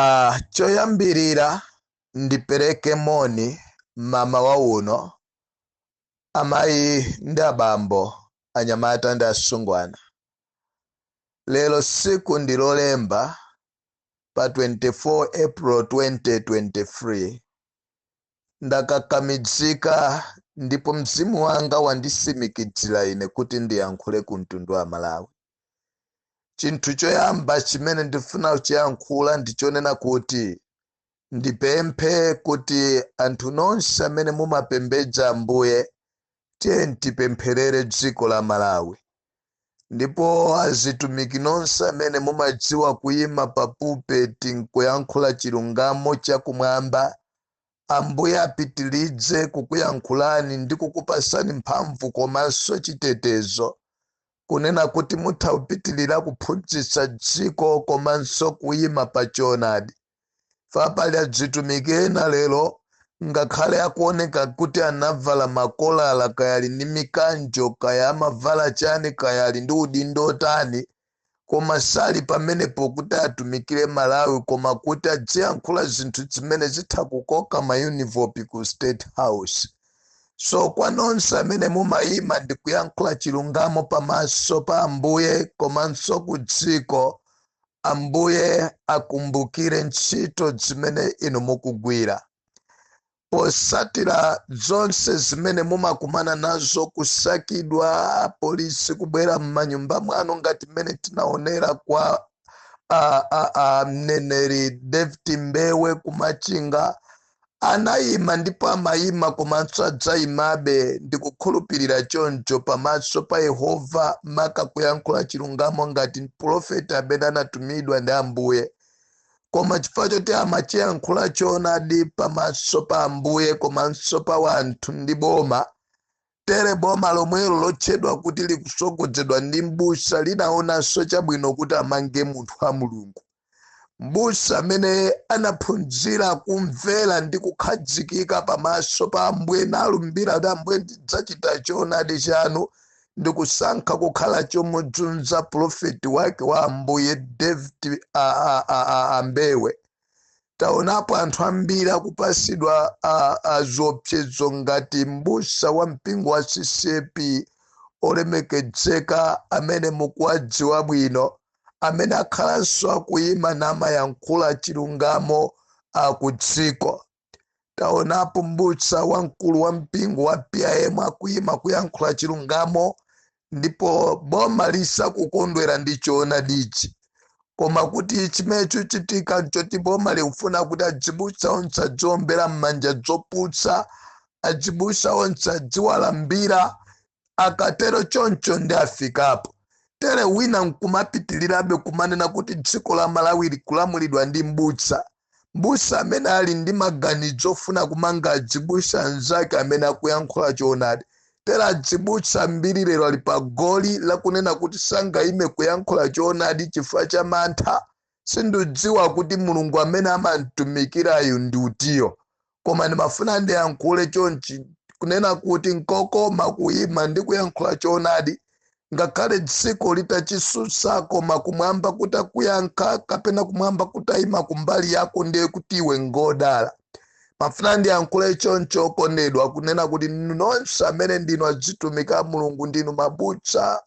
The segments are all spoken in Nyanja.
Ah, choyambirira ndipereke moni mmawa uno amayi ndi abambo anyamata ndi asungwana lero siku ndi lolemba pa 24 april 2023 ndakakamidzika ndipo mzimu wanga wandisimikidzira ine kuti ndiyankhule ku mtundu wa malawi chinthu choyamba chimene ndifuna kuchiyankhula ndi chonena kuti ndipemphe kuti anthu nonse amene mumapembedza ambuye tiye tipempherere dziko la malawi ndipo azitumiki nonse amene mumadziwa kuyima pa pulpeti nkuyankhula chilungamo chakumwamba ambuye apitilize kukuyankhulani ndi kukupasani mphamvu komanso chitetezo kunena kuti mutha kupitilira kuphunzitsa dziko komanso kuyima pa choonadi Pali adzitumiki ena lero ngakhale akuoneka kuti anavala makolala kaya ali ndi mikanjo kaya amavala chani kaya ali ndi udindo otani koma sali pamenepo kuti atumikire malawi koma kuti adziyankhula zinthu zimene zitha kukoka maenivelopi ku state house so kwa nonse amene mumayima ndi kuyankhula chilungamo pamaso pa ambuye komanso ku dziko ambuye akumbukire ntchito zimene inu mukugwira posatira zonse zimene mumakumana nazo kusakidwa polisi kubwera m'manyumba mwanu ngati mmene tinaonera kwa a- a- a mneneri david mbewe ku Machinga Anayima ndipo amayima komanso adzayimabe, ndikukhulupirira choncho, pamaso pa Yehova, maka kuyankhula chilungamo ngati mpulofeti amene anatumidwa ndi Ambuye. Koma chifukwa choti amachiyankhula choonadi pamaso pa Ambuye komanso pa wanthu ndi boma, tere boma lomwelo lotchedwa kuti likusogodzedwa ndi mbusa linaonanso chabwino kuti amange munthu wa mulungu mbusa amene anaphunzira kumvera ndi kukhazikika pamaso pa ambuye nalumbira kuti ambuye ndidzachita choonadi chanu ndi kusankha kukhala chomudzunza pulofeti wake wa ambuye david a- a- a- a- a Mbewe taonapo anthu ambiri akupasidwa a- aziopsezo ngati mbusa wa mpingo wa CCAP olemekedzeka amene mukuwadziwa bwino amene akhalanso akuyima namayankhula chilungamo a ku dziko taonapo mbusa wamkulu wa mpingo wa pim akuyima kuyankhula chilungamo ndipo boma lisakukondwera ndi choonadichi koma kuti chimene chikuchitika nchoti boma likufuna kuti adzibusa onse adziombera m'manja dzopusa adzibusa onse adziwalambira akatero choncho ndiyafika pa tere wina nkumapitirirabe kumanena kuti dziko la malawi likulamulidwa ndi mbusa Mbusa amene ali ndi maganidzo ofuna kumanga adzibusa anzake amene akuyankhula choonadi. Tere adzibusa ambiri lero ali pa goli lakunena kuti sangayime kuyankhula choonadi chifukwa cha mantha, sindidziwa kuti Mulungu amene amamtumikirayo ndi utiyo. koma ndimafuna ndiyankhule chonchi kunena kuti nkokoma kuyima ndi kuyankhula choonadi ngakhale dziko litachitsutsa koma kumwamba kutakuyankha kapena kumwamba kutayima kumbali yako ndiye kuti iwe ngodala mafuna ndiyankhule choncho okondedwa kunena kuti nonse amene ndinu adzitumiki a mulungu ndinu mabusa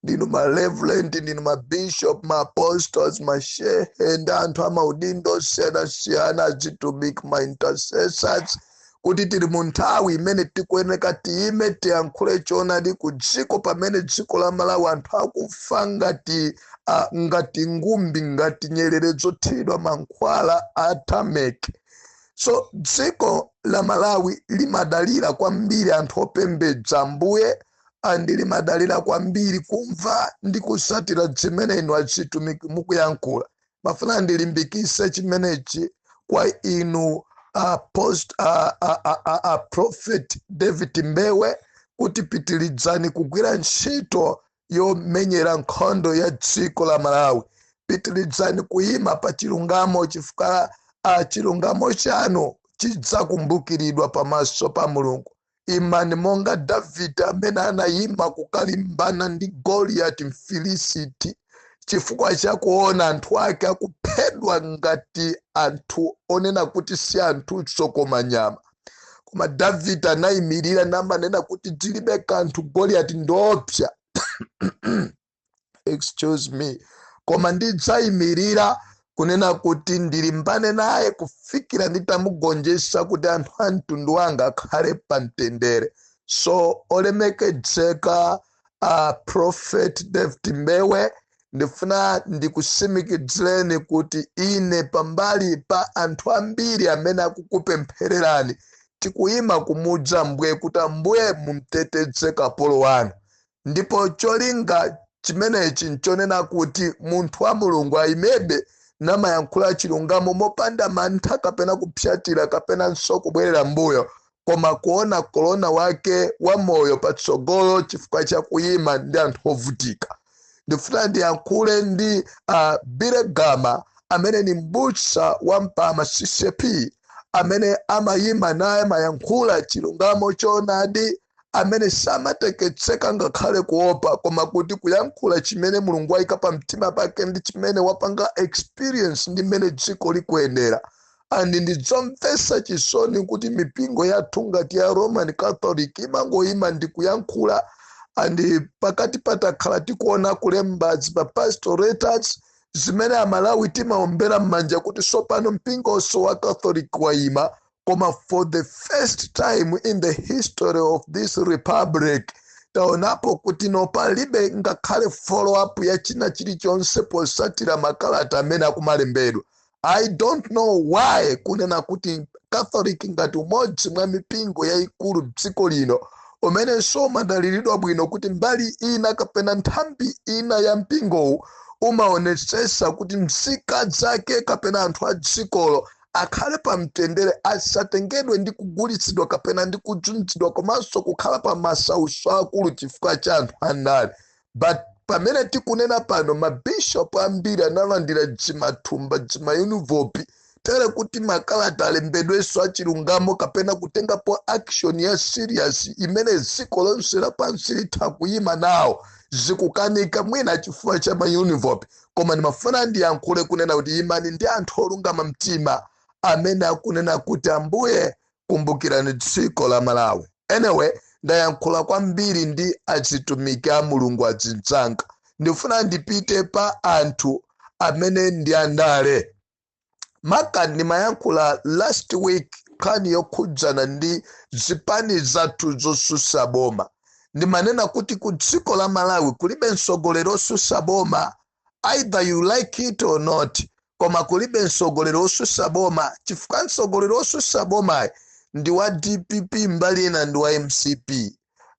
ndinu ma reverend ndinu ma bishop ma apostles ma shehe ndi anthu amaudindo osiyanasiyana azitumiki ma intercessors kuti tili mu nthawi imene tikuyeneka tiyime tiyankhule choonadi ku dziko pamene dziko la malawi anthu akufa ngati ngati ngumbi ngati nyerere zothiridwa mankhwala a tameke so dziko la malawi limadalira kwambiri anthu opembedza ambuye and limadalira kwambiri kumva ndi kusatira zimene inu adzitumiki mukuyankhula mafuna ndilimbikise chimenechi kwa inu a prophet david mbewe kuti pitilidzani kugwira ntchito yomenyera nkhondo ya dziko la malawi pitilidzani kuyima pa chilungamo chifukwa chilungamo chanu chidzakumbukiridwa pamaso pa mulungu imani monga davide amene anayima kukalimbana ndi goliyati mfilisiti chifukwa cha kuona anthu ake akuphedwa ngati anthu onena kuti si anthunso koma nyama koma davide anayimirira namanena kuti tilibe kanthu goliyati ndiopsa excuse me koma ndidzayimirira kunena kuti ndilimbane naye kufikira nditamugonjetsa kuti anthu a mtundu wanga akhale pa mtendere so olemekedzeka a prophet david mbewe ndifuna ndikusimikizireni kuti ine pambali pa anthu ambiri amene akukupemphererani tikuyima kumuuza ambuye kuti ambuye mumteteze kapolo wanu ndipo cholinga chimenechi nchonena kuti munthu wa mulungu ayimebe namayankhula chilungamo mopanda mantha kapena kupsatira kapenanso kubwerera mbuyo koma kuona kolona wake wa moyo patsogolo chifukwa cha kuyima ndi anthu ovutika ndifuna ndiyankhule ndi uh, Billy Gama amene ni mbusa wa mpama ccap amene amayima naye mayankhula chilungamo choonadi amene samateketseka ngakhale kuopa koma kuti kuyankhula chimene mulungu wayika pa mtima pake ndi chimene wapanga experience ndi mmene dziko likuyendera and ndidzomvetsa chisoni kuti mipingo yathu ngati ya roman catholic imangoyima ndi kuyankhula and pakati patakhala tikuona kulemba ma pastoral letters zimene amalawi timaombera m'manja kuti sopano mpingonso wa catholic wayima koma for the first time in the history of this republic taonapo kuti no palibe ngakhale follow up ya china chilichonse posatira makalata amene akumalembedwa i don't know why kunena kuti catholic ngati umodzi mwa mipingo yayikulu m'dziko lino umenenso umadaliridwa bwino kuti mbali ina kapena nthambi ina ya mpingowu umaonetsetsa kuti mzika zake kapena anthu a dzikolo akhale pa mtendere asatengedwe ndi kugulitsidwa kapena ndi kudzunzidwa komanso kukhala pa masautso akulu chifukwa cha anthu andale but pamene tikunena pano mabishopu ambiri analandira dzimathumba dzimaenivelopu tere kuti makalata alembedwenso achilungamo kapena kutengapo action ya serious imene dziko lonse lapansi litha kuyima nawo zikukanika mwina chifukwa cha maenivelopu koma ndimafuna ndiyankhule kunena kuti imani ndi anthu olungama mtima amene akunena kuti ambuye kumbukirani dziko la malawi anyway ndayankhula kwambiri ndi azitumiki a mulungu azinzanga ndifuna ndipite pa anthu amene ndi andale maka ndimayankhula last week nkhani yokhudzana ndi zipani zathu zosusa boma ndimanena kuti ku dziko la malawi kulibe mtsogoleri osusa boma either you like it or not koma kulibe mtsogoleri osusa boma chifukwa mtsogoleri osusa boma ndi wa dpp mbali ina ndi wa mcp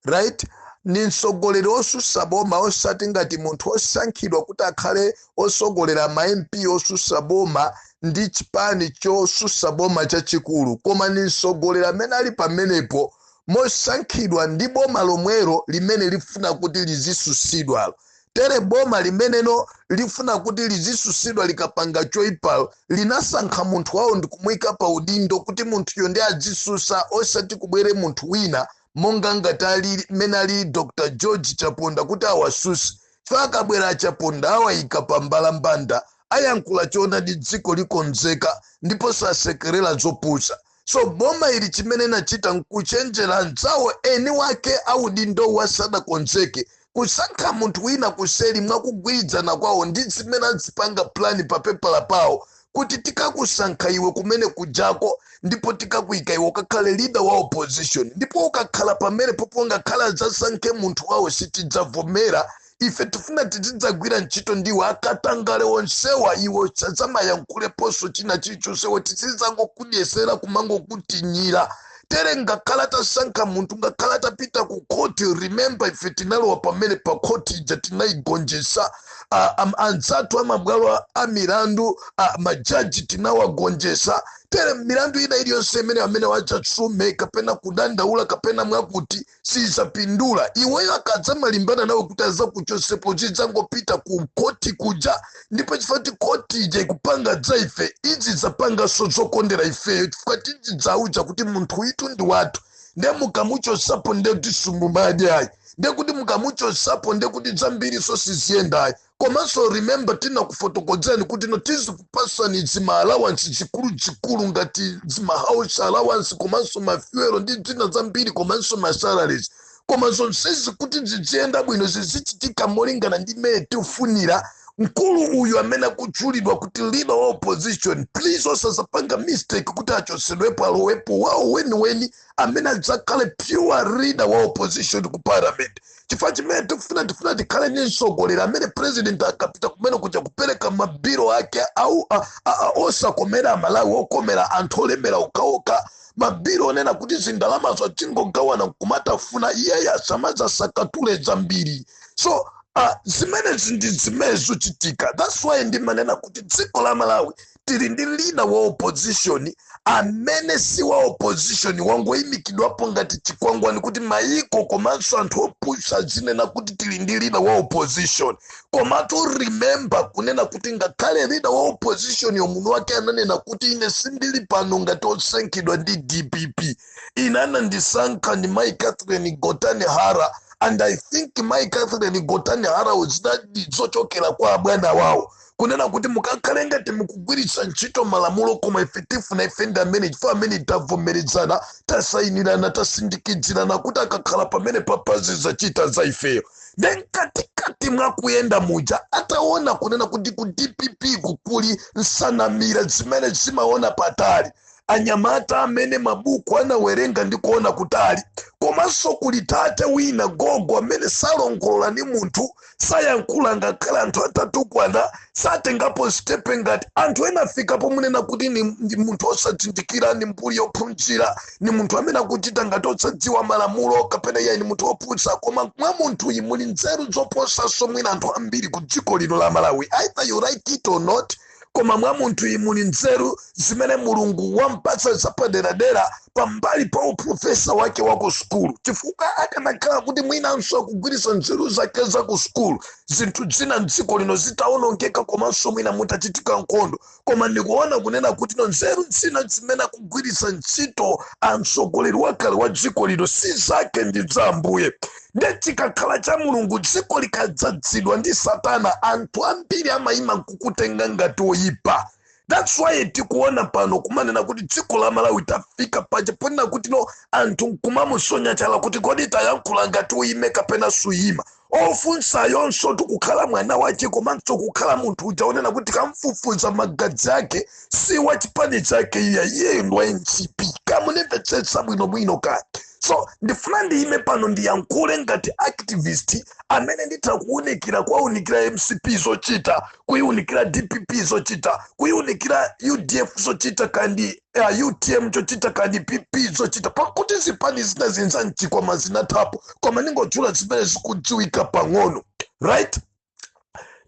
right ndi mtsogoleri osusa boma osati ngati munthu osankhidwa kuti akhale osogolera ma mp osusa boma ndi chipani chosusa boma chachikulu koma ndi mtsogoleri amene ali pamenepo mosankhidwa ndi boma lomwero limene lifuna kuti lizisusidwalo Tere boma limeneno lifuna kuti lizisusidwa likapanga choipa linasankha munthu wawo ndikumuika pa udindo kuti munthuyo nde adzisusa osati kubwere munthu wina monga ngati ali mmene ali Dr George Chaponda kuti awasuse chifukwa akabwera a Chaponda awaika pa mbalambanda ayankhula choonadi dziko likonzeka ndipo sasekerela zopusa so boma ili chimene inachita nkuchenjera anzawo eni wake audindowo asadakonzeke kusankha munthu wina kuseri mwakugwirizana kwawo ndi zimene azipanga plani pa pepala pawo kuti tikakusankha iwe kumene kujako ndipo tikakuika iwe ukakhale leader wa opposition ndipo ukakhala pamenepopo ngakhale azasankhe munthu wawo sitidzavomera ife tifuna tizidzagwira ntchito ndiwe akatangale onsewa iwe usadzamayankhuleponso china chilichonsewo tizidzangokudyesera kumangokutinyira tere ngakhale atasankha munthu ngakhale atapita ku khoti remember ife tinalowa pamenepa khoti ija tinayigonjesa a- am- anzathu amabwalo a- a milandu a- majaji tinawagonjesa tere milandu ina iliyonse imene amenewa adzasume kapena kudandaula kapena mwakuti sizapindula iweyo akadzamalimbana nawe kuti azakuchosepo zidzangopita ku khoti kuja ndipo chifukwa choti khoti ija ikupanga dza ife idzidzapanganso zokondera ifeyo chifukwa tidzidzauza kuti munthu uyitu ndi wathu nde mukamuchosapo nde kuti simumadyayi nde kuti mukamuchosapo nde kuti dzambiriso siziyendayi komanso remember tinakufotokodzani kuti no tizikupasani dzima allowance chikuluchikulu ngati dzima house allowance komanso mafuelo ndi dzina zambiri komanso ma salaries koma zonsezi kuti zidziyenda bwino zizichitika molingana ndi mmene tifunira mkulu uyu amene akutchulidwa kuti leader wa opposition please osazapanga mistake kuti achosedwepo alowepo wawo weniweni amene adzakhale pure leader wa opposition ku parliament chifukwa chimene tifuna tifuna tikhale ndi mtsogoleri amene president akapita kumene kuja kupereka mabiro ake au a- a- a- osakomera amalawi okomera anthu olemera okhaokha mabiro onena kuti zindalamazo tingogawana nkumatafuna iyeyo asamazasakatule zambiri so uh, zimenezi ndi zimene zochitika thats why ndimanena kuti dziko la malawi tili ndi lida wa opposition amene si wa opposition wangoyimikidwapo ngati chikwangwani kuti mayiko komanso anthu opusa azinena kuti tili ndi lida wa opposition komatu remember kunena kuti ngakhale lida wa oppositionyo mwini wake ananena kuti ine sindili pano ngati osankhidwa ndi dpp ine anandisankha ndi mayi catherine gotani hara and i think mayi catherine gotani hara zinali zochokera kwa abwana wawo kunena kuti mukakhale ngati mukugwiritsa ntchito malamulo koma ife tifuna ife ndi amene chifukwa amene tavomerezana tasayinirana tasindikidzirana kuti akakhala pamene papazi zachita za ifeyo ne mkatikati mwa kuyenda muja ataona kunena kuti ku dpp kuli nsanamira zimene zimaona patali anyamata amene mabuku anawerenga ndi kuona kutali komanso kuli tate wina gogo amene salongolola ndi munthu sayankhula ngakhale anthu atatukwana satengapo stepe ngati anthu ena afika pomunena kuti ni, ndi munthu osazindikira ni mbuli yophunzira ni munthu amene akuchita ngati osadziwa malamulo kapena iye ni munthu wopusa koma mwa munthuyi muli nzeru zoposanso mwina anthu ambiri ku dziko lino la malawi either you like it or not koma mwa munthuyi muli nzeru zimene mulungu wampatsa zapaderadera pambali pa uprofesa wake wa ku sukulu chifukwa akanakhala kuti mwinanso akugwiritsa nzeru zake za ku sukulu zinthu zina mdziko lino zitaonongeka komanso mwina mutachitika nkhondo koma ndikuona kunena kuti no nzeru zina zimene akugwiritsa ntchito amtsogoleri wakale wa dziko lino si zake ndi za ambuye nde chikakhala cha mulungu dziko likadzadzidwa ndi satana anthu ambiri amayima kukutenga ngati oyipa that's why tikuona pano kumanena kuti dziko la malawi tafika paja ponena kuti no anthu kumamusonya chala kuti kodi tayankhula ngati uyime kapena suyima ofunsayonso tikukhala mwana wache komanso kukhala munthu uja kunena kuti kamfufuza magazi ake si wa chipani chake iya iyeyo ndi wa mcp kamunimvetsetsa bwinobwino kake so ndifuna ndiyime pano ndiyankhule ngati activist amene nditha kuwunikira kuwawunikira mcp zochita kuyiwunikira dpp zochita kuyiwunikira udf zochita kandi uh, utm chochita kandi pp zochita pakuti zipani zina zija za mchikwama zinathapo koma ndingotchula zimene zikudziwika pang'ono right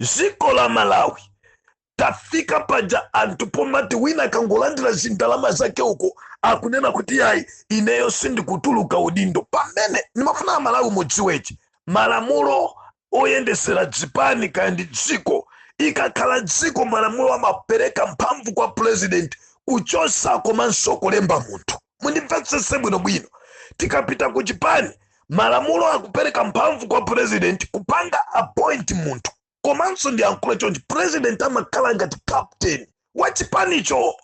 dziko la malawi tafika paja anthu pomati wina kangolandira zindalama zake uko akunena kuti yayi ineyo sindikutuluka udindo pamene ndimafuna amalawi mudziwechi malamulo oyendesera zipani kandi dziko ikakhala dziko malamulo amapereka mphamvu kwa president kuchosa komanso kulemba munthu mundimvetsese bwinobwino tikapita ku chipani malamulo akupereka mphamvu kwa president kupanga appoint munthu komanso ndiyankhule chonchi president amakhala ngati captain wa chipanicho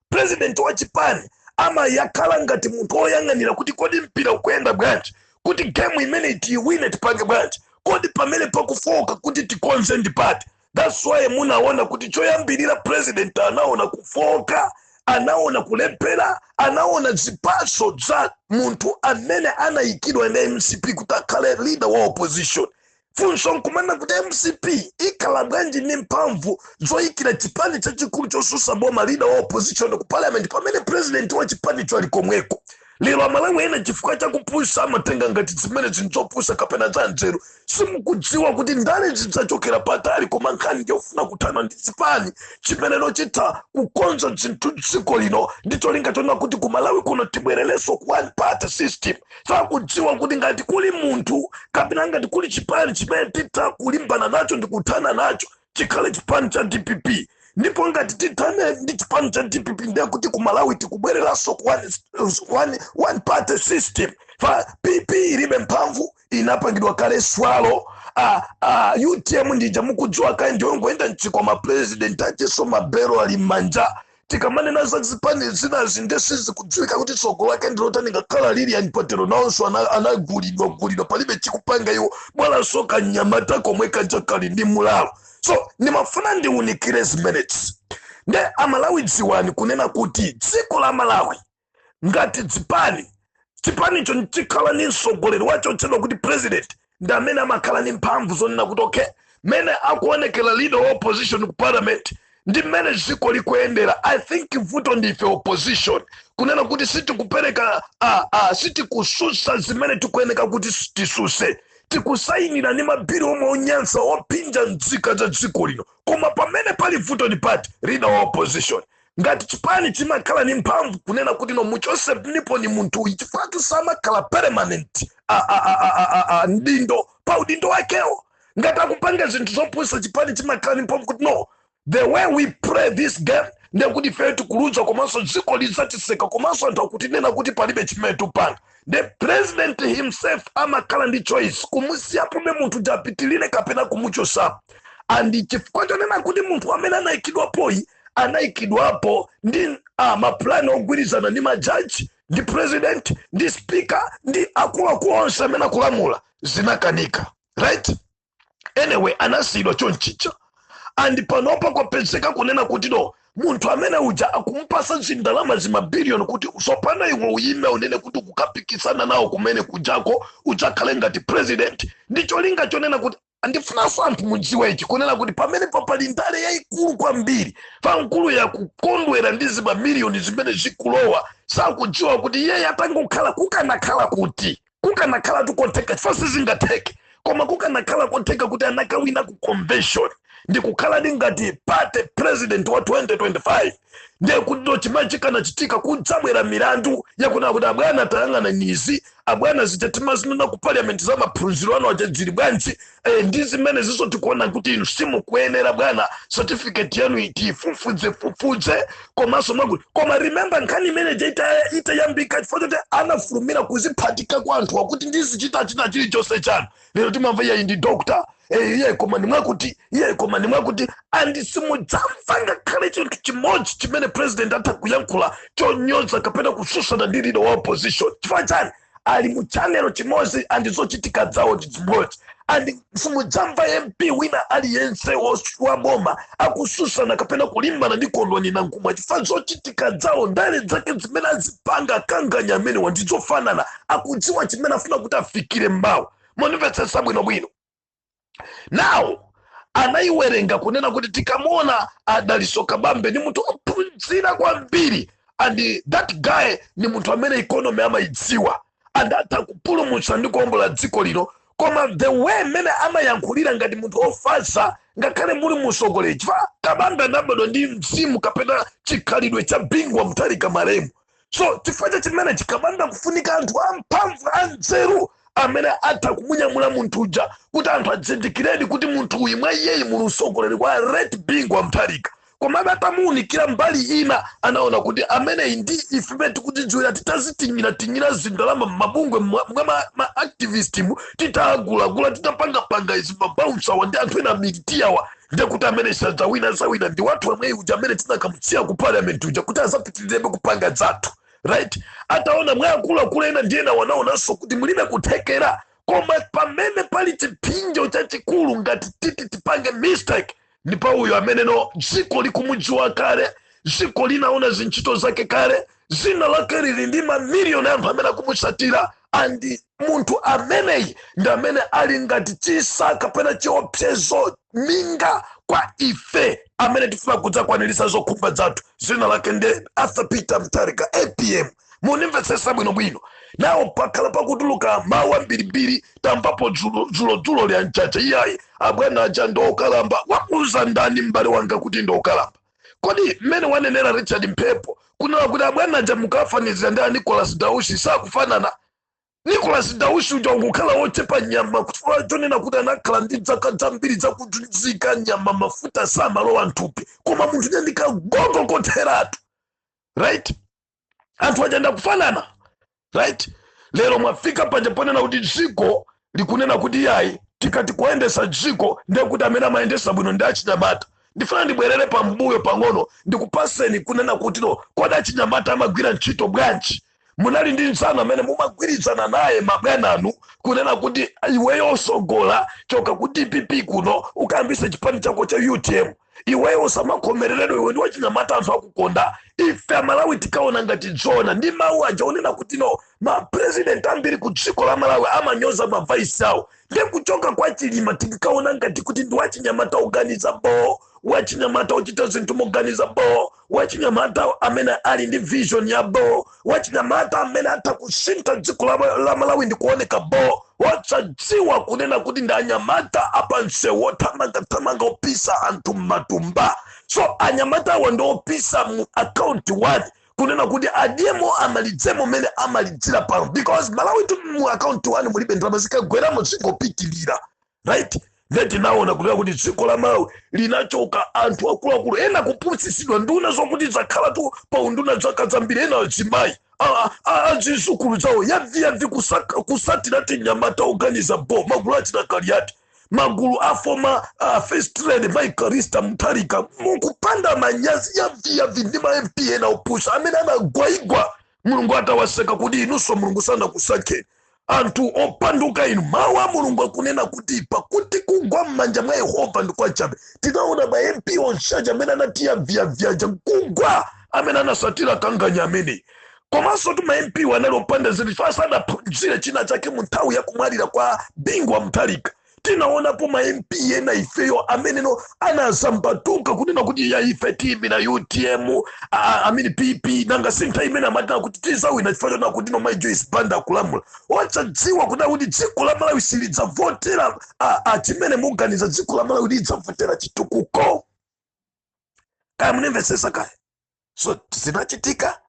president wa chipani amayakhala ngati munthu woyang'anira kuti kodi mpira ukuyenda bwanji kuti gemu imene tiyiwine tipange bwanji kodi pamene pakufoka kuti tikonze ndi pati that's why munaona kuti choyambirira president anaona kufoka anaona kulephera anaona zipatso za munthu amene anayikidwa na mcp kuti akhale leader wa opposition funso nkumana kuti mcp ikhala bwanji ndi mphamvu zoyikira chipani chachikulu chosusa boma lida wa opposition ku parliament pamene president wa chipanicho ali komweko lero amalawi ena chifukwa chakupusa amatenga ngati zimene zinzopusa kapena za nzeru simukudziwa kuti ndale zidzachokera patali koma nkhani yofuna kuthana ndi chipani chimene chitha kukonza zinthu dziko lino ndi cholinga chona kuti kumalawi kuno tibwererenso ku one party system sakudziwa kuti ngati kuli munthu kapena ngati kuli chipani chimene titalimbana nacho ndi kuthana nacho chikhale chipani cha dpp ndipo ngati tithane ndi chipani cha dpp ndiye kuti ku malawi tikubwereranso ku one party system chifukwa pp ilibe mphamvu inapangidwa kale zwalo a, a, utm ndija mukudziwa kale ndiyongoyenda mchikwama president achiso mabere ali m'manja tikamanena za zipani zinazi nde sizikudziwika kuti tsogolo lake ndilotani ngakhale lilian patero nawonso ana- anagulidwa gulidwa palibe chikupanga iwo bwanji kanyamata komwe kaja kali ndi mulalo so ndimafuna ndiunikire zimenezi nde amalawi dziwani kunena kuti dziko la malawi ngati chipani chipanicho nchikhala ni msogoleri wachotchedwa kuti president ndi amene amakhala ni mphamvu zonena kuti okay mmene akuonekera leader wa opposition ku parliament ndi mmene dziko likuyendera i think vuto ndife opposition kunena kuti sitikupereka ah, ah, sitikususa zimene tikuyeneka kuti s- tisuse tikusayinira ni mabiri omwe onyansa ophinja nzika za dziko lino koma pamene pali vuto ni pati leader wa opposition ngati chipani chimakhala ni mphamvu kunena kuti no muchoseniponi munthu uyu chifukwatu samakhala permanent a- a- a- a- a- a- a- mdindo pa udindo wakewo ngati akupanga zinthu zopusa chipani chimakhala ni mphamvu kuti no the way we play this game ndekuti ifeyo tikuluza komanso dziko lizatiseka komanso anthu akutinena kuti palibe chimene tupanga the president himself amakhala ndi choice kumusiyapobe munthu kuti apitilire kapena kumuchosapo and chifukwa chonena kuti munthu amene anaikidwapoyi anaikidwapo ndi ah, mapulani ogwirizana ndi majaji ndi president ndi speaker ndi akuluakulu onse amene akulamula zinakanika right anyway anasiyidwa chonchija and panopa kwapezeka kunena kuti no munthu amene uja akumupasa zindalama zimabiliyoni kuti tsopano iwe uyime unene kuti ukukapikisana nawo kumene kujako udzakhale ngati president ndi cholinga chonena kuti andifunanso anthu mudziwe ichi kunena kuti pamenepa pali ndale yayikulu kwambiri pa mkuluyu akukondwera ndi zimamiliyoni zimene zikulowa sakudziwa kuti iyeyo atangokhala kukanakhala kuti kukanakhalatu kotheka chifukwa sizingatheke koma kukanakhala kotheka kuti anakawina ku convention ndikukhala ndi ngati party president wa 2025 ndiye kuti ndo chimene chikanachitika kudzabwera milandu yakunena kuti abwana tayang'anani izi abwana zija timazinena ku parliament za maphunziro anu aja zili bwanji e, ndi zimene zizo tikuona kuti inu simukuyenera bwana certificate yanu tifufuze fufuze komanso mwakuti koma remember nkhani imene ija ita- itayambika chifukwa choti anafulumira kuziphatika kwa anthu akuti ndizichita china chilichonse chanu lero timamva iyeyi ndi dokta eh, iye koma ndi mwakuti iye koma ndi mwakuti andi simudzamva ngakhale chinthu chimodzi chimene president atakayankhula chonyoza kapena kususana ndi leader wa opposition chifukwa chani ali mu channel imodzi andi zochitika zawo ndi zimodzi andi simudzamva mp wina aliyense wos- wa boma akususana kapena kulimbana ndi kondwani nankhumwa chifukwa zochitika zawo ndale zake zimene azipanga akanganya amenewa ndizofanana akudziwa chimene afuna kuti afikire mmawa mondimvetsetsa bwinobwino now anayiwerenga kunena kuti tikamuona a dalitso kabambe ni munthu ophunzira kwambiri and that guy ni munthu amene economy amayidziwa and atha kupulumutsa ndi kuombola dziko lino koma the way mmene amayankhulira ngati munthu ofatsa ngakhale muli usogoleri chifukwa kabambe anabadwa ndi mzimu kapena chikhalidwe cha bingu wa mutharika malemu so chifukwa cha chimenechi kabambe kufunika anthu amphamvu anzeru amene atha kumunyamula munthu uja kuti anthu adzindikiredi kuti munthu uyu mwa iyeyi muli usogoleri wa late bingu wa mutharika komabe atamuunikira mbali ina anaona kuti ameneyi ndi ife pamene tikutidziwira titazitinyiratinyira zindalama m'mabungwe mwa mwa ma, ma activist mu titagulagula titapangapanga izi ma bouncer wa ndi anthu ena militia wa ndiye kuti amene sadzawina azawina ndi wathu amweyi uja amene tinakamusiya ku parliament uja kuti azapitirebe kupanga zathu right ataona mwa akuluakulu ena ndi ena wanaonanso kuti mulibe kuthekera koma pamene pali chipsinjo chachikulu ngati titi tipange mistake ndi pa uyo amenenso dziko likumudziwa kale dziko linaona zintchito zake kale dzina lake lili ndi mamiliyoni anthu amene akumutsatira andi munthu ameneyi ndi amene ali ngati chitsa kapena chiopsezo minga kwa ife amene tifuna kudzakwaniritsa zokhumba zathu dzina lake ndi arthur peter mutharika apm munimvetsetsa bwinobwino now pakhala pakutuluka mawu ambirimbiri tamvapo dzulo- dzulodzulo li a mchacha iyayi abwana aja ndiokalamba wakuuza ndani m'bale wanga kuti ndiokalamba kodi mmene wanenera richard mphepo kunena kuti abwana aja mukafanizira ndi a nicolas dausi sakufanana nicolas dausi uja akukhala wochepa nyama chifukwa chonena kuti anakhala ndi zaka zambiri zakuzuzika nyama mafuta samalowa mthupi koma munthu uja ndikagogo kotheratu right anthu achanda kufanana right lero mwafika panja ponena kuti dziko likunena kuti yayi tikati kuyendesa dziko ndiye kuti amene amayendesa bwino ndi achinyamata ndifuna ndibwerere pambuyo pang'ono ndikupaseni kunena kuti no kodi achinyamata amagwira ntchito bwanji munali ndi mzanu amene mumagwirizana naye mabwana anu kunena kuti iweyo osogola choka ku dpp kuno ukayambitse chipani chako cha utm iweyo usamakhomereredwe iwe ndi wachinyamata anthu akukonda ife amalawi tinkaona ngati zoona ndi mawu aja onena kuti no mapresident ambiri ku dziko la malawi amanyoza mavaisi awo ndiye kuchoka kwa chilima tinkaona ngati kuti ndi wachinyamata oganiza boo wachinyamata ochita zinthu moganiza boo wachinyamata amene ali ndi vision ya boo wachinyamata amene atha kusintha dziko la, la malawi ndi kuoneka boo osadziwa kunena kuti ndi anyamata apansewu othamangathamanga opisa anthu m'matumba so anyamata awa ndi opisa mu akaunti wani kunena kuti adyemo amalidzemo mene amalidzira pano because malawi tu mu akaunti wani mulibe ndalama zikagweramo zingopitilira right ndiye tinaona kunena kuti dziko la malawi linachoka anthu akuluakulu ena kupusitsidwa nduna zokuti zakhala tu pa unduna zaka zambiri ena azimayi azizukulu zawo yaviyavi kusaka- kusatira tinyamata oganiza bo magulu achina kaliati magulu a former uh, first lady mai callista mutharika mukupanda manyazi yaviyavi ndi ma mp ena opusa amene anagwaigwa mulungu atawaseka kuti inunso mulungu sanakusankheni anthu opanduka inu mawu a mulungu akunena kuti pakuti kugwa m'manja mwa yehova ndi kwachabe tinaona ma mp onse aja amene anati yaviyavi aja kugwa amene anasatira kanganya ameneyi komanso tu ma mp anali opanda zinthu chifukwa sanaphunzire china chake mu nthawi ya kumwalira kwa bingu wa mutharika tinaonapo ma mp ena ifeyo amene no anazambatuka kunena kuti yayi ife tiimira utm i mean pp nanga si nthawi imene amatana kuti tizawina chifukwa chonena kuti no mai joyce banda akulamula osadziwa kunena kuti dziko la malawi silidzavotera a- a chimene muganiza dziko la malawi lidzavotera chitukuko kaya munimvesesa kaya so zinachitika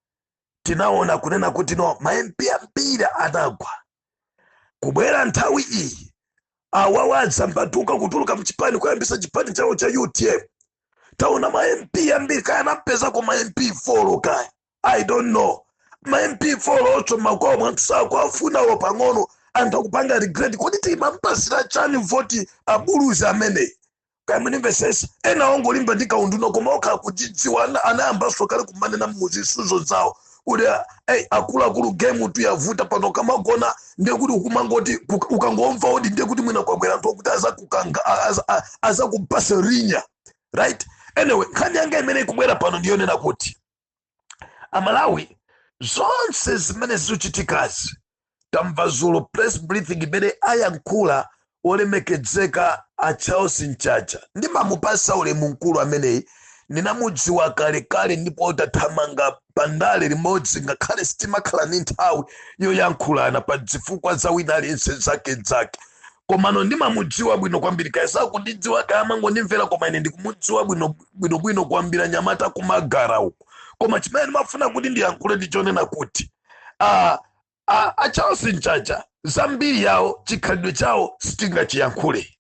tinaona kunena kuti no ma MP ambiri anagwa kubwera nthawi iyi awawa adzambatuka kutuluka mchipani kuyambisa chipani chawo cha utm taona ma MP ambiri kaya anapezako ma MP 4 kaya i don't know ma MP 4 otinso makwawomo anthu sakuwafuna olo pang'ono anthu akupanga regret kodi timampasira chani voti abuluzi ameneyi kaya munimvesesa ena ongolimba ndi kaunduna koma okha akuchidziwa ana- anayambanso kale kumanena muzisudzo zawo kuti hey, akuluakulu gemu tu yavuta pano ukamagona ndiye kuti ukumangoti uka- ukangomva odi ndiye kuti mwina kwabwera anthu okuti azakumanga a- aza- a- azakupasa rinya right anyway nkhani yanga imene ikubwera pano ndiyonena kuti amalawi zonse zimene zichitikazi tamva zulo press briefing imene ayankhula wolemekedzeka a charles mchacha ndimamupasa ulemu mkulu ameneyi ndinamudziwa kalekale ndipo tathamanga pandale limodzi ngakhale sitimakhala ndi nthawi yoyankhulana pa zifukwa za wina aliyense zake zake komano ndimamudziwa bwino kwambiri kaya sakundidziwa kaya amangondimvera koma ine ndikumudziwa bwino bwino bwino kwambiri anyamata kumagara uko koma chimene ndimafuna kuti ndiyankhule ndi chonena kuti ah, ah, a charles mchacha zambiri yawo chikhalidwe chawo sitingachiyankhule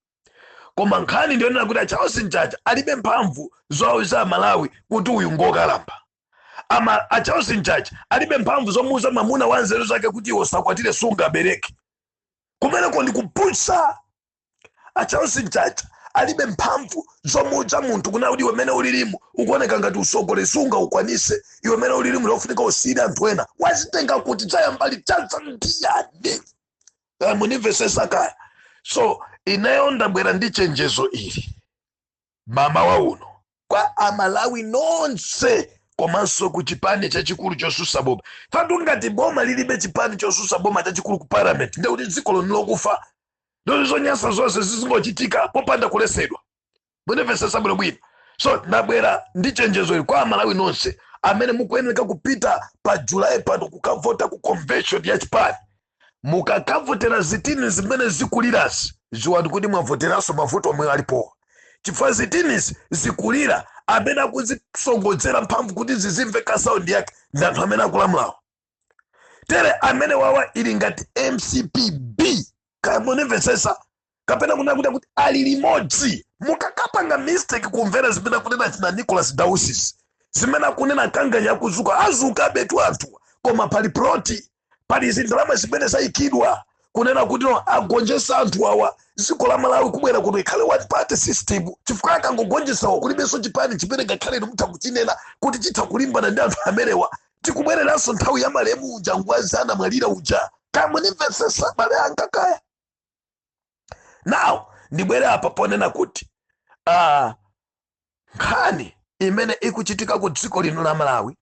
koma nkhani ndiyonena kuti a charles mchacha alibe mphamvu zowauza amalawi kuti uyu ngokalamba a charles mchacha alibe mphamvu zomuuza mamuna wa nzeru zake kuti iwe usakwatire sungabereke kumeneko ndikupusa a charles mchacha alibe mphamvu zomuuza munthu kunena kuti iwe mene ulilimu ukuoneka ngati usogoleri sungaukwanise iwe mene ulilimu lofunika usiyire anthu ena wazitenga kuti chayamba liti chaza ndiyani Eh, munimvesese kaya so ineyo ndabwera ndi chenjezo ili mamawa uno kwa amalawi nonse komanso ku chipani chachikulu chosusa boma chifukwatu ngati boma lilibe chipani chosusa boma chachikulu ku parliament nde kuti dziko lino lokufa ndi zonyansa zonse zizingochitika popanda kulesedwa munimvesese bwino bwino so ndabwera ndi chenjezo ili kwa amalawi nonse amene mukuyeneka kupita pa julayi pano kukavota ku convention ya chipani mukakavotera zitini zimene zikulirazi ziwani kuti mwavoteranso mavuto omwe alipowa chifukwa zitinizi zikulira amene akuzisonkhezera mphamvu kuti zizimveka saundi yake ndi anthu amene akulamulawo tere amenewa ali ngati mcp b kaya munimvetsesa kapena kunena kuti akuti ali limodzi mukakapanga mistake kumvera zimene akunena achina nicholas dausi zimene akunena kanganya akudzuka adzukabetu anthu koma pali ploti pali zindalama zimene zayikidwa kunena kuti no agonjese anthu awa dziko la malawi kubwera kuti ikhale one party system chifukwa akangogonjesawo kulibenso chipani chimene ngakhale inu mutha kuchinena kuti chitha kulimbana ndi anthu amenewa tikubwereranso nthawi ya malemu uja ngwazi anamwalira uja kamunimvesesa abale anga kaya now ndibwere apa ponena kuti ah, nkhani imene ikuchitika ku dziko lino la malawi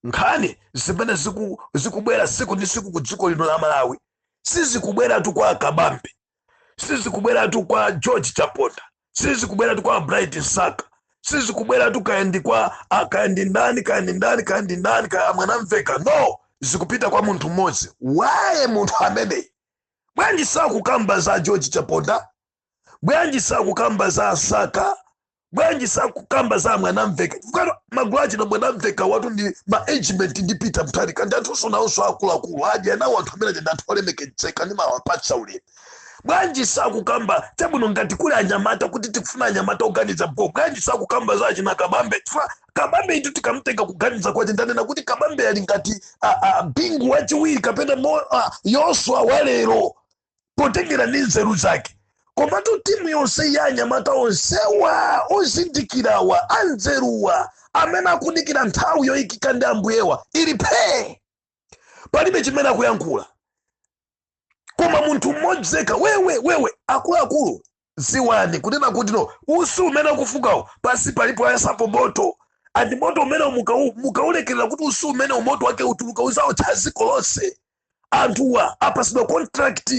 nkhani zimene ziku- zikubwera siku ndi siku ku dziko lino la malawi sizikubweratu kwa kabambe sizikubweratu kwa george chaponda sizikubweratu kwa bright msaka sizikubweratu kaendi kwa ah, kaendi ndani kaendi ndani kaendi ndani kaya mwanamvekha no zikupita kwa munthu mmodzi why munthu ameneyi bwanji sakukamba za george chaponda bwanji sakukamba za asaka bwanji sakukamba za mwanamveka magulu achina mwanamveka watu ndi maagemate ndi peter mutharika ndi anthu nawonso akuluakulu aja nawo anthu amenewa ndi anthu olemekedzeka ndimawapatsa ulemu bwanji sakukamba chabwino ngati kuli anyamata kuti tikufuna anyamata oganiza bho bwanji sakukamba za achina kabambe chifukwa kabambe itu tikamtenga kuganiza kwace ndanena kuti kabambe ali ngati bingu waciwiri kapena mo- yoswa wa lero potengera ndi nzeru zake komatu timu yonse ya anyamata onsewa ozindikirawa anzeruwa amene akudikira nthawi yoyikika ndi ambuyewa ili phee palibe chimene akuyankhula koma munthu mmodzi yekha wewe wewe akuluakulu ziwani kunena kuti no usi umene ukufukawo pasi palipo ayasapo moto andi moto umene mukau- mukaulekerera kuti usi umenewu moto wake utuluka uzaotcha dziko lonse anthuwa apasidwa contract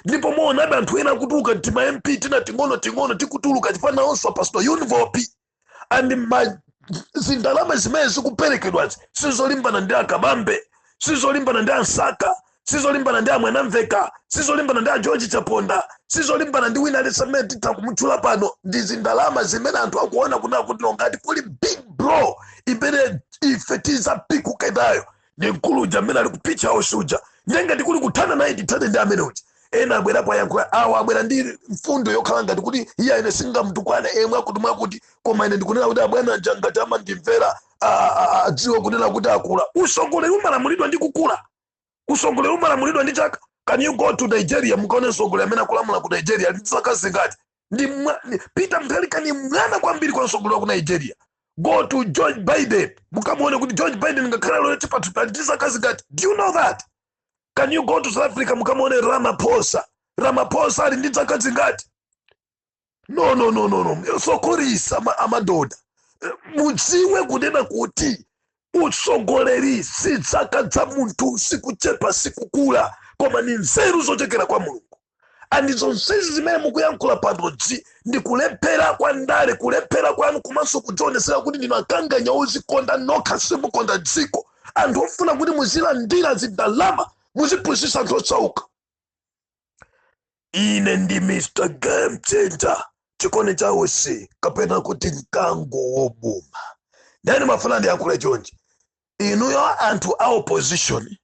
ndipo muonabe anthu ena akutuluka tima mp tina ting'ono ting'ono tikutuluka chifukwa onse apasidwa univopi andi mazindalama zimene zikuperekedwazi sizolimbana ndi akabambe sizolimbana ndi ansaka sizolimbana ndi amwanamveka sizolimbana ndi ageorge chaponda sizolimbana ndi wina aliyense amene titha kumutchula pano ndi zindalama zimene anthu akuona kunena kuti ngati kuli big bro imene ife tizapikuke nayo ndi mkulu uja amene ali ku page house uja ndiye ngati kuli kuthana naye tithane ndi amene uja ena abwerapo ayankhula awa abwera ndi mfundo yokhala ngati kuti iii ine singamtukwane emwe akuti mwakuti koma ine ndikunena kuti abwana aja ngati amandimvera adziwe kunena kuti akula usogoleri umalamulidwa ndi kukula usogoleri umalamulidwa ndi chaka can you go to nigeria mukaone msogoleri amene akulamula ku nigeria ndi zaka zingati ndi peter mutharika ni mwana kwambiri kwa msogoleri wa ku nigeria go to george biden mukamuone kuti george biden ngakhale ali chipatupatu ali ndi zaka zingati do you know that can you go to south africa mukamuone ramaphosa ramaphosa ali ndi dzaka dzingati no no no no no sokorisa amadoda mudziwe kunena kuti utsogoleri si dzaka za munthu sikuchepa sikukula koma ni nzeru zochokera kwa mulungu andi zonsezi zimene mukuyankhula panozi ndi kulephera kwa ndale kulephera kwanu komanso kudzionesera kuti ndinu akanganya ozikonda nokha simukonda dziko anthu ofuna kuti muzilandira zindalama muzipusisa anthu osauka ine ndi mr game changer chikondi chausi kapena kuti mkango wobuma ndiye ndimafuna ndiyankhule chonchi inuyo anthu a opposition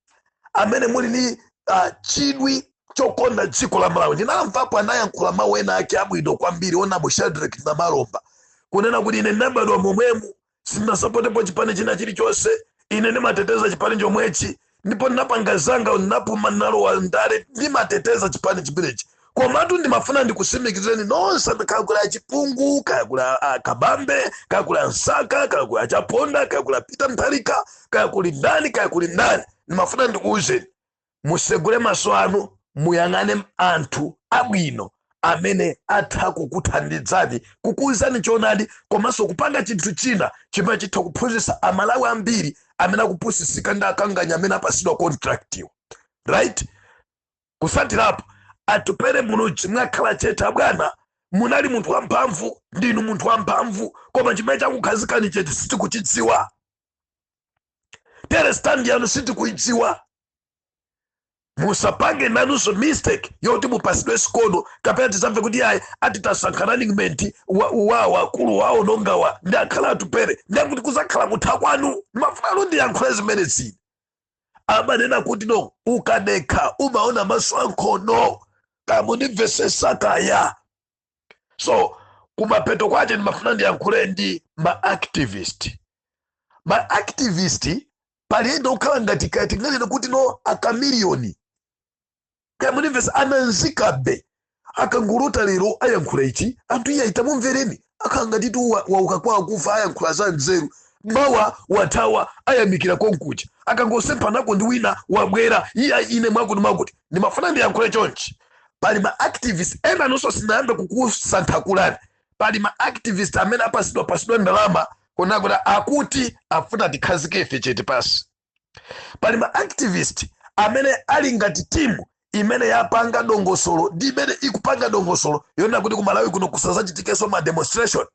amene muli ni uh, chidwi chokonda dziko la malawi ndinamvapo anayankhula mawu ena ake abwino kwambiri onabo shadreck namalomba kunena kuti ine ndinabadwa momwemu Sindinasapotepo chipani china chilichonse. Ine ndimateteza chipani chomwechi ndipo ndinapanga zanga, ndinapuma, ndinalowa ndale, ndimateteza chipani chimenechi. Komatu ndimafuna ndikusimikizireni nonse amene kaya kuli achipungu, kaya kuli a- a kabambe, kaya kuli ansaka, kaya kuli achaponda, kaya kuli a Peter Mutharika, kaya kuli ndani, kaya kuli ndani, ndimafuna ndikuwuzeni Musegule maso anu muyang'ane anthu abwino amene atha kukuthandizani kukuwuzani choonadi komanso kupanga chinthu china chimene chitha kuphunzitsa amalawi ambiri amene akupusitsika ndi akanganya amene apasidwa contract iwo right kutsatirapo atupere Muluzi mwakhala chete abwana munali munthu wamphamvu ndinu munthu wamphamvu koma chimene chakukhazikani chete sitikuchidziwa tere stand yanu sitikuidziwa musapange nanunso mistake yoti mupatsidwe sikono kapena tizamve kuti ayi ati tasankha running mate wa- wawo akulu wawo anangowandiya akhala atupere ndiye kuti kuzakhala kutha kwanu ndimafuna ndiyankhule zimenezi ine amanena kuti no ukadekha umaona maso ankhono kaya mukundimvetsetsa kaya so kumapeto kwache ndimafuna ndiyankhule ndi ma activist ma activist paliyenda okhala ngati kaya tinganene kuti no akamiliyoni kaya mukundimvetsa ananzikambe akangouluka lero ayankhula ichi anthu iye ayita mumvereni akhala ngati tu wa- wauka kwa akufa ayankhula za nzeru mawa wathawa ayamikira konkuja akangosemphanako ndi wina wabwera iya ine mwakuti mwakuti ndimafuna ndiyankhule chonchi pali ma activist ena nonse sindinayambe kukusankhakulani pali ma activist amene apatsidwa patsidwa ndalama kunena kuti akuti afuna tikhazike ife chete pansi pali ma activist amene ali ngati timu imene yapanga dongosolo ndi imene ikupanga dongosolo yoona kuti kumalawi kuno kusazachitikenso ma demonstration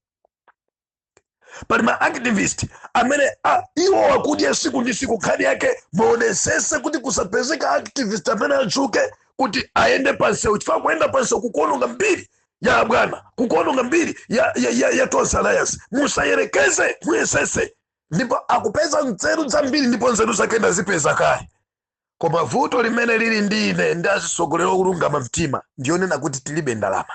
pali ma activist amene iwo akudya siku ndi siku nkhani yake muonetsetse kuti kusapezeka activist amene atchuke kuti ayende pansewu chifukwa kuyenda pansewu kukuononga mbiri ya abwana kukuononga mbiri ya, ya, ya, ya Tonse Alliance musayerekeze muyesetse ndipo akupeza nzeru zambiri ndipo nzeru zake ndazipeza kale koma vuto limene lili ndi ine ndi azitsogoleri olungama mtima ndiyonena kuti tilibe ndalama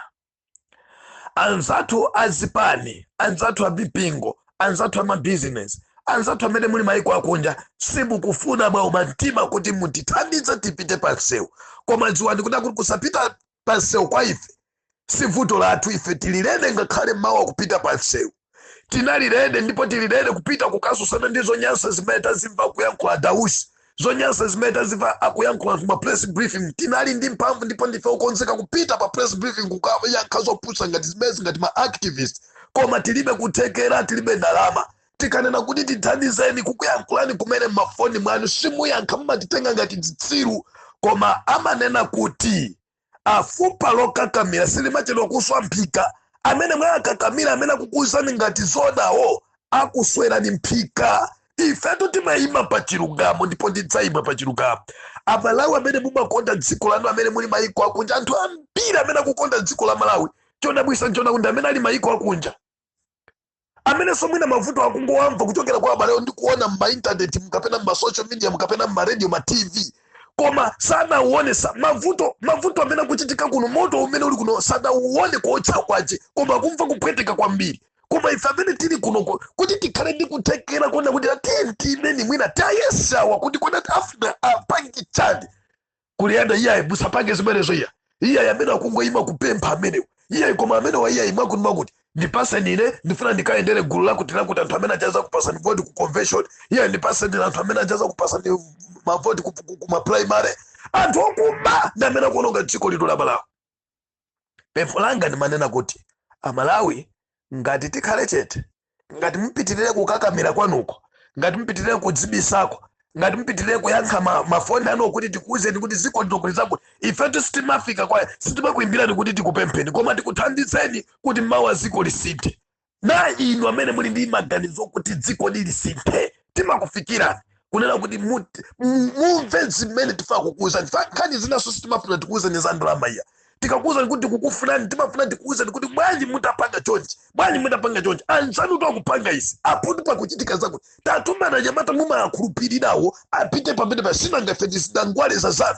anzathu a zipani anzathu a mipingo anzathu a mabizinesi anzathu amene muli maiko akunja simukufuna mwaumitsa mtima kuti mutithandize tipite pansewu koma dziwani kuti akuti kusapita pansewu kwa ife si vuto lathu ife tili ready ngakhale mmawa kupita pansewu tinali ready ndipo tili ready kupita kukasusana ndi zonyansa zimene tazimva akuyankhula Dausi zonyansa zimene tazimva akuyankhula m'ma press briefing tinali ndi mphamvu ndipo ndife okonzeka kupita pa press briefing kukayankha zopusa ngati zimezi ngati ma activist koma tilibe kuthekera tilibe ndalama tikanena kuti tithandizeni kukuyankhulani kumene mmafoni mwanu simuyankha mumatitenga ngati zitsiru koma amanena kuti a, fupa lokakamira silimachedwa kuswa mphika amene mwakakamira amene akukuuzani ngati zonawo akuswerani mphika ifetu timayima pa chilungamo ndipo ndidzayima pa chilungamo amalawi amene mumakonda dziko lanu amene muli mayiko akunja anthu ambiri amene akukonda dziko la Malawi chodabwisa nchoona kuti amene ali mayiko akunja amenenso mwina mavuto akungowamva kuchokera kwa abalewo ndi kuona m'maintaneti mkapena m'masocial media mkapena m'maradio ma tv koma sanauone sa, mavuto mavuto amene akuchitika kuno moto umene uli kuno sadauone kuotcha kwake koma akumva kupweteka kwambiri koma ife amene tili kuno kuti tikhale ndi kuthekera kuona kuti atenti imene mwina tayesawa kuti kodi afuna apange chani kuliyenda iyayi musapange zimenezo iya iyayi amene akungoyima kupempha amenewa iyayi koma amenewa iyayi mwakuti mwakuti ndipaseni ine ndifuna ndikayendere gulu lakuti lakuti anthu amene adzazakupasani voti ku convention iyayi ndipaseni ine anthu amene adzazakupasani mavoti ku, ku, ku maprimary anthu okuba ndi amene akuononga dziko lino la Malawi pempho langa ndimanena kuti amalawi ngati tikhale chete ngati mupitirire kukakamira kwanuko ngati mupitirire kudzibisako ngati mupitirire kuyankha ma- mafoni anu kuti tikuwuzeni kuti zikondokweza kuti ifetu sitimafika kwa sitimakuyimbirani kuti tikupempheni koma tikuthandizeni kuti mawa dziko lisinthe na inu amene muli ndi maganizo okuti dziko ili lisinthe timakufikirani kunena kuti mut- mu- mumve zimene tifuna kukuwuzani fa nkhani zinanso sitimafuna tikuwuzani za ndalama iya tikakuwuzani kuti tikukufunani timafuna tikuwuzani kuti bwanji mutapanga chonchi bwanji mutapanga chonchi anzanutu akupanga izi apotu pakuchitika zakuti tatumani anyamata mumawakhulupirirawo apite pamene pasinangafe ndizidangwaleza zanu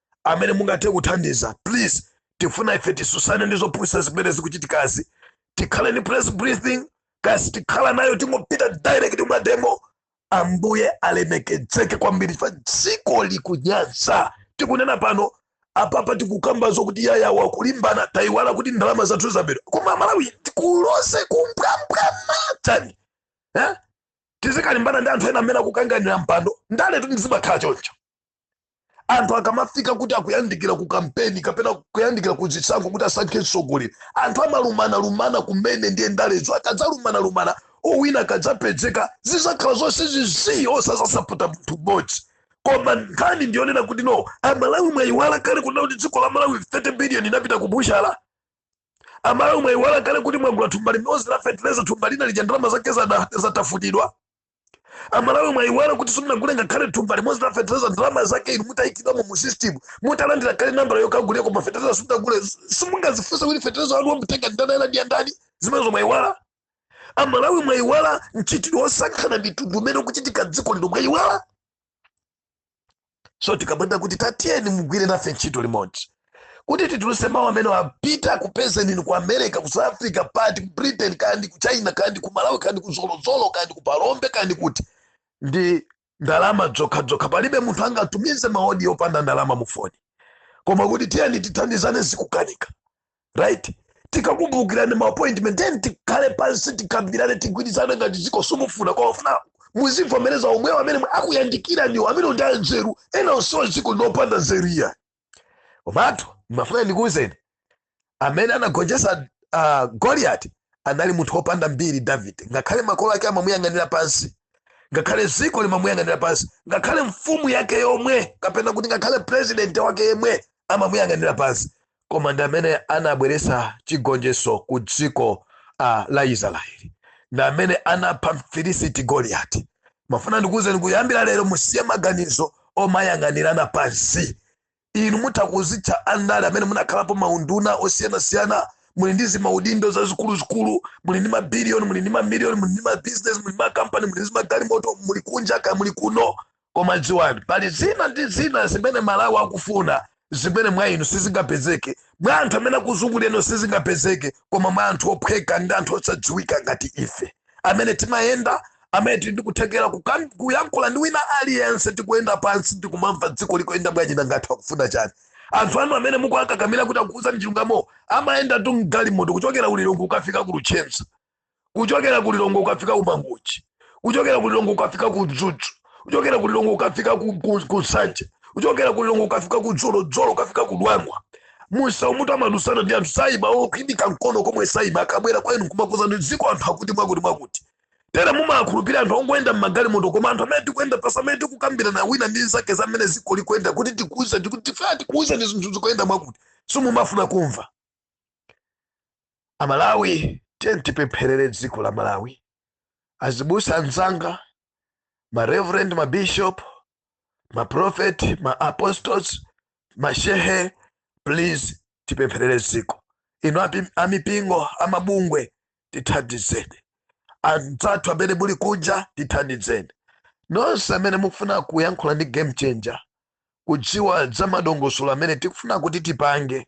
amene mungathe kuthandiza please tifuna ife tisusane ndi zopusa zimene zikuchitikazi tikhale ndi press briefing tikasatikhala nayo tingopita direct m'mademo ambuye alemekedzeke kwambiri chifukwa dziko likunyansa tikunena pano apapa tikukamba zokuti yayi awa akulimbana tayiwala kuti ndalama zathu zabedwa koma aMalawi tikuloze kumwamba matani eh? tizikalimbana ndi anthu ena amene akukanganira mpando ndaletu ndizimakhala choncho anthu akamafika kuti akuyandikira ku kampeni kapena kuyandikira ku zisankho kuti asankhe mtsogoleri anthu amalumanalumana kumene ndiye ndalezo akadzalumanalumana owina akadzapezeka zizakhala zonse zii osazasapota munthu mmodzi koma nkhani ndiyonena kuti no amalawi mwayiwala kale kunena kuti dziko la malawi 30 billion inapita ku butchala amalawi mwayiwala kale kuti mwagula thumba limodzi la feteleza thumba lina lija ndalama zake zada- zatafutidwa amalawi mwayiwala kuti simunagule ngakhale thumba limodzi la fetereza ndalama zake inu mutaikidwamo mu system mutalandira kale nambala yokagulira koma fetereza simunagule simungazifunse kuti fetereza wanu wamutenga ndani ena ndi andani zimenezo mwayiwala amalawi mwayiwala mchitidwe wosankhana mitundu umene ukuchitika dziko lino mwayiwala so tikabwera kuti tatiyeni mugwire nafe ntchito limodzi kuti tituluse mawu amene apita kupeze nini ku america ku south africa pati ku britain kandi ku china kandi ku malawi kandi ku zolozolo kandi ku phalombe kandi kuti ndi ndalama zokhazokha palibe munthu angatumize maodi opanda ndalama mu foni koma kuti tiyeni tithandizane zikukanika right tikakubukirani ma appointment then tikhale pansi tikambirane tigwirizane ngati dziko simufuna koma mufuna muzivomereza omwewo amene mwe- akuyandikiraniwo ndi amene ndi anzeru ena onsewa dziko lino opanda nzeru iya komatu ndimafuna ndikuwuzeni amene anagonjetsa uh, goliyati anali munthu wopanda mbiri davide ngakhale makolo ake amamuyang'anira pansi ngakhale dziko limamuyang'anira pansi ngakhale mfumu yake yomwe kapena kuti ngakhale president wake yemwe amamuyang'anira pansi koma ndi amene anabweretsa chigonjetso ku dziko uh, la israeli ndi amene anapha mfilisiti goliyati ndimafuna ndikuwuzeni kuyambira lero musiye maganizo omayang'anirana pansi inu mutha kuzitcha andale amene munakhalapo maunduna osiyanasiyana muli ndi zimaudindo zazikuluzikulu muli ndi mabiliyoni muli ndi mamiliyoni muli ndi mabizinesi muli ndi makampani muli ndi magalimoto muli kunja kaya muli kuno Koma dziwani, pali zina ndi zina zimene Malawi akufuna zimene mwa inu sizingapezeke, mwa anthu amene akuzungulira inu sizingapezeke, koma mwa anthu ophweka ndi anthu osadziwika ngati ife, amene timayenda, amene tili ndi kuthekera kukan- kuyankhula ndi wina aliyense, tikuyenda pansi ndi kumamva dziko likuyenda bwanji nanga anthu akufuna chani. Anthu anu amene mukuwakakamira kuti akukuuzani chilungamo amayendatu m'galimoto kuchokera ku Lilongwe kukafika ku Luchenza kuchokera ku lilongwe ukafika ku mangochi kuchokera ku lilongwe ukafika ku mzuzu kuchokera ku lilongwe ukafika ku, ku, ku nsanje kuchokera ku lilongwe ukafika ku zolozolo ukafika ku dwangwa musa kuti amadutsana ndi anthu sabaya kuimika mkono komwe saima akabwera kwa inu kumakuuzani dziko anthu akuti mwakuti mwakuti tera mumakhulupirira anthu ongoyenda m'magalimoto koma anthu amene tikuyenda pansi amene tikukambirana wina ndi nzake za mmene dziko likuyenda kuti tikuuzeni tikati tifaa tikuuzeni zinthu zikuyenda mwakuti simumafuna kumva Amalawi tiyeni tipempherere dziko la Malawi. Azibusa anzanga, ma reverend, ma bishop, ma prophet, ma apostles, ma shehe, please tipempherere dziko. Inu amipingo amabungwe tithandizeni, anzathu amene muli kunja tithandizeni, nonse amene mukufuna kuyankhula ndi game changer kudziwa za madongosolo amene tikufuna kuti tipange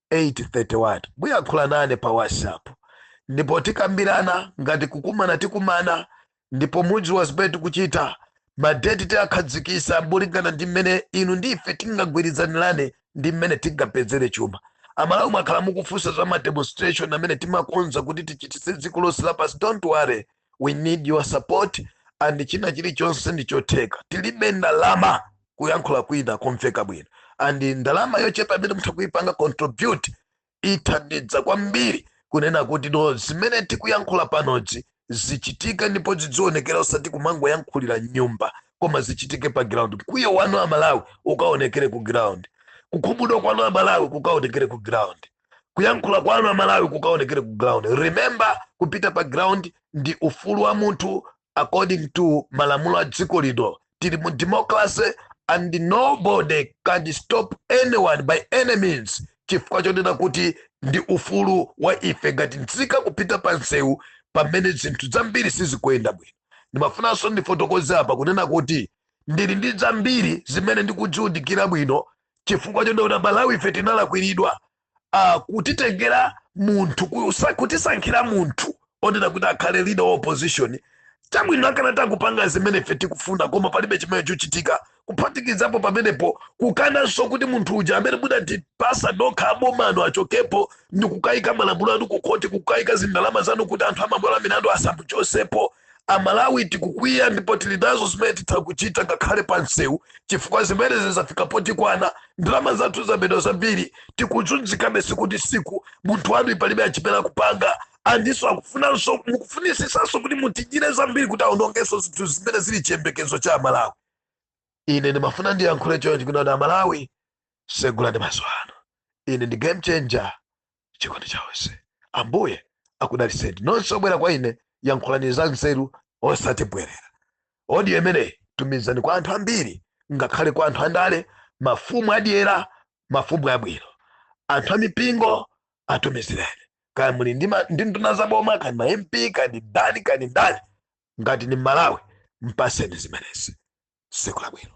831 muyankhula nane pa whatsapp ndipo tikambirana ngati kukumana tikumana ndipo mudziwa zimene tikuchita madeti tiakhazikitsa molingana ndi mmene inu ndi ife tingagwirizanirane ndi mmene tingapezere chuma amalawi mwakhala mukufunsa za mademonstration amene timakonza kuti tichitise dziko lonse lapansi don't worry we need your support and china chilichonse ndi chotheka tilibe ndalama kuyankhula kwina komveka bwino and ndalama yochepa imene mutha kuipanga contribute ithandiza kwambiri kunena kuti no zimene tikuyankhula panozi zichitike ndipo zizionekera osati kumangoyankhulira mnyumba koma zichitike pa ground mkwiyo wanu amalawi ukaonekere ku ground kukhumudwa kwanu amalawi kukaonekere ku ground kuyankhula kwanu amalawi kukaonekere ku ground remember kupita pa ground ndi ufulu wa munthu according to malamulo a dziko lino tili mu democracy and nobody can stop anyone by any means chifukwa chonena kuti ndi ufulu wa ife ngati nzika kupita pa nsewu pamene zinthu zambiri sizikuyenda bwino ndimafunanso ndifotokoze apa kunena kuti ndili ndi zambiri zimene ndikuziwunikira bwino chifukwa chonena amalawi ife tinalakwiridwa uh, kutitengera munthu kutisankhira munthu onena kuti akhale leader wa opposition chabwino akanati akupanga zimene ife tikufuna koma palibe chimene chochitika kuphatikizapo pamenepo kukananso kuti munthu uja amene mudatipasa nokha abomano achokepo ndi kukayika malamulo anu kukhoti kukayika zindalama zanu kuti anthu amabwalo amilandu asamuchotsepo amalawi tikukwiya ndipo tili nazo zimene titha kuchita ngakhale pa msewu chifukwa zimenezi zafika potikwana ndalama zathu zabedwa zambiri tikuzunzikabe siku ndi siku munthu wanu palibe achipera kupanga andiso akufunanso mukufunitsitsanso kuti mutidyire zambiri kuti aonongenso zinthu zimene zili chiyembekezo cha amalawi ine ndimafuna ndiyankhule chonchi kuti amalawi segulani maso anu ine ndi game changer chikondi cha onse ambuye akudalitseni nonse obwera kwa ine yankhulani za nzeru osati mbwerera odiyo imeneyi tumizani kwa anthu ambiri ngakhale kwa anthu andale mafumu adyera mafumu abwino anthu amipingo atumizireni kaya muli ndi nduna za boma kani ma mp kani ndani kani ndani ngati ni mmalawi mpatseni zimenezi siku labwino